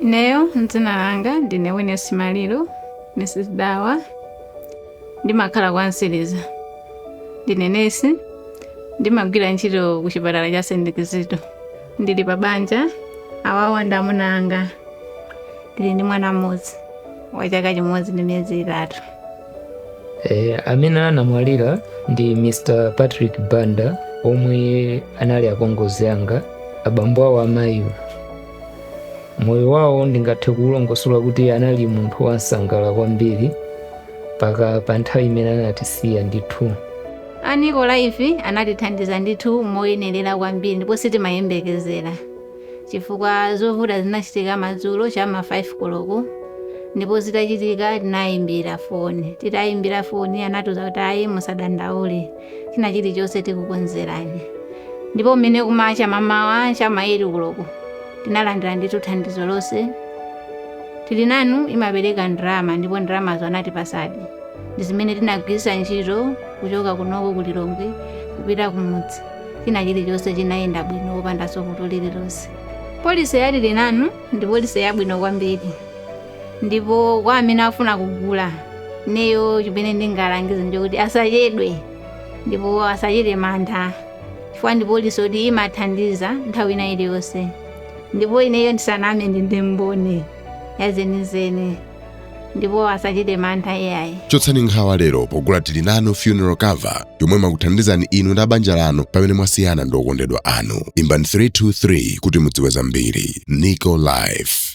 Ineyo dzina langa ndine Witness Maliro, Mrs. Dawa, ndimakhala kwa Nsiliza. Ndine nesi, ndimagwira ntchito ku chipatala cha St. Kizito. Ndili pa banja, awawa ndi amuna anga. Ndili ndi mwana mmodzi wa chaka chimodzi ndi miyezi itatu. Eh, amene anamwalira ndi Mr. Patrick Banda omwe anali apongozi anga abambo awo amayiwo moyo wawo ndingathe kuulongosola kuti anali munthu wansangala kwambiri mpaka pa nthawi imene anatisiya ndithu a NICO Life anatithandiza ndithu moyenerera kwambiri ndipo sitimayembekezera chifukwa zovuta zinachitika madzulo cha ma 5 koloko ndipo zitachitika tinayimbira foni titayimbira foni anatiuza kuti ayi musadandaule china chilichonse tikukonzerani ndipo mmene kumacha mamawa cha ma 8 koloko tinalandira ndithu thandizo lonse tili nanu imapereka ndalama ndipo ndalamazo anatipasadi ndi zimene tinagwiritsa ntchito kuchoka kunoko ku lilongwe kupita kumudzi china chilichonse chinayenda bwino opandanso vuto lililonse polisi ya tili nanu ndi polisi yabwino kwambiri ndipo kwa amene afuna kugula ineyo chimene ndingalangize ndikuti asachedwe ndipo asachite mantha chifukwa ndi polisi yoti imathandiza nthawi ina iliyonse ndipo ineyo ndisaname ndi ndi mboni yazenizeni ndipo asachite mantha iyayi chotsani nkhawa lero pogula tili nanu funeral cover yomwe imakuthandizani inu ndi abanja lanu pamene mwasiyana ndi okondedwa anu imbani 323 kuti mudziwe zambiri nico life